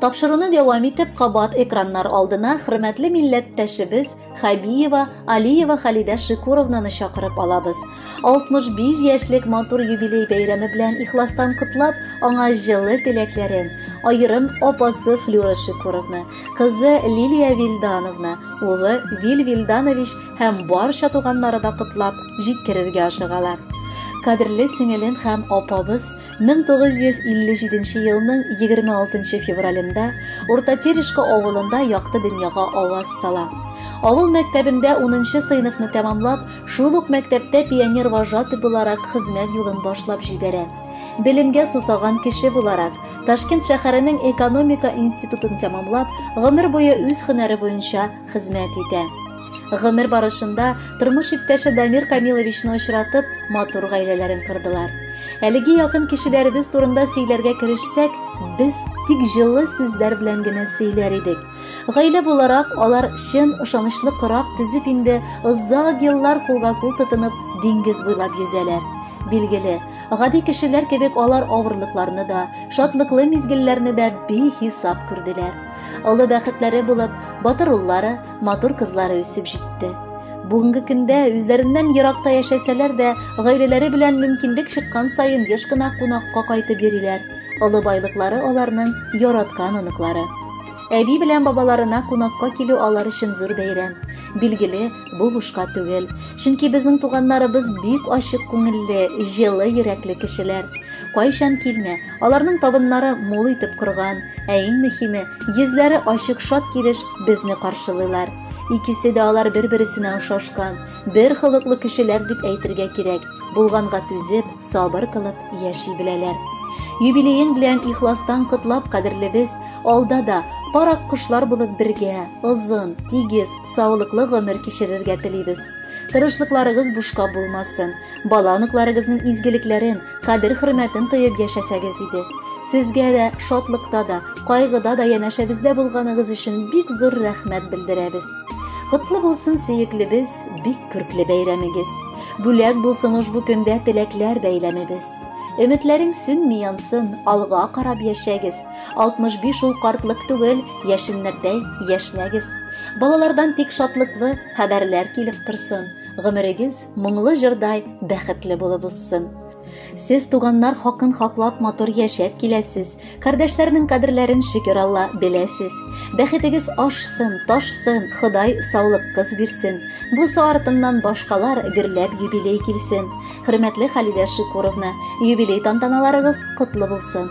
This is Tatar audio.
Тапшыруны дәвам итеп, кабат экраннар алдына хөрмәтле милләттәшебез Хабиева Алиева Халидә Шикуровнаны чакырып алабыз. 65 яшьлек матур юбилей бәйрәме белән ихластан котлап, аңа җылы теләкләрен, аерым апасы Флюра Шикуровна, кызы Лилия Вильдановна, улы Виль Вильданович һәм барча туганнары да котлап җиткерергә ашыгалар. Кадерле сеңелем һәм апабыз 1957 елның 26 февралендә Урта Терешка авылында якты дөньяга аваз сала. Авыл мәктәбендә 10 сыйныфны тәмамлап, шул ук мәктәптә пионер-вожатый буларак хезмәт юлын башлап җибәрә. Белемгә сусаган кеше буларак, Ташкент шәһәренең экономика институтын тәмамлап, гомер буе үз һөнәре буенча хезмәт итә. Гомер барышында тормыш иптәше Дамир Камиловичны очратып, матур гаиләләрен кордылар. Әлеге якын кешеләребез турында сөйләргә керешсәк, без тик җылы сүзләр белән генә сөйләр идек. Гаилә буларак алар чын ышанычлы корак төзеп инде озак еллар кулга-кул тотынып диңгез буйлап йөзәләр. Билгеле, гади кешеләр кебек алар авырлыкларны да, шатлыклы мизгелләрне дә бихисап күрделәр. Олы бәхетләре булып, батыр уллары, Матур кызлары үсеп җитте. Бүгенге көндә үзләреннән еракта яшәсәләр дә, гаиләләре белән мөмкинлек чыккан саен еш кына кунакка кайтып йөриләр. Олы байлыклары аларның яраткан оныклары. Әби белән бабаларына кунакка килү алар өчен зур бәйрәм. Билгеле, бу бушка түгел. Чөнки безнең туганнарыбыз бик ачык күңелле, җылы йөрәкле кешеләр. Кайчан килмә, Аларның табыннары мул итеп корган, ә иң мөһиме, йөзләре ачык шат килеш безне каршылыйлар. Икесе дә алар бер-бересенә ошашкан, бер холыклы кешеләр дип әйтергә кирәк. Булганга түзеп, сабыр кылып яши беләләр. Юбилеең белән ихластан котлап, кадерлебез, алда да парак кошлар булып бергә, озын, тигез, саулыклы гомер кичерергә телибез. Тырышлыкларыгыз бушка булмасын. Бала-оныкларыгызның изгелекләрен, кадер-хөрмәтен тоеп яшәсәгез иде. Сезгә дә шатлыкта да, кайгыда да янәшәбездә булганыгыз өчен бик зур рәхмәт белдерәбез. Котлы булсын сөеклебез, бик күркле бәйрәмегез. Бүләк булсын ошбу көндә теләкләр бәйләмебез. Өметләрең сүнми янсын, алга карап яшәгез. 65 ул картлык түгел, яшеннәрдәй яшьнәгез. Балалардан тик шатлыклы хәбәрләр килеп торсын. Гомерегез моңлы җырдай бәхетле булып узсын. Сез туганнар хакын хаклап матур яшәп киләсез. Кардәшләрнең кадерләрен шөкер Алла беләсез. Бәхетегез ашсын, ташсын, Ходай саулык кыз бирсен. Бу артыннан башкалар гөрләп юбилей килсен. Хөрмәтле Халидә Шикуровна, юбилей тантаналарыгыз котлы булсын.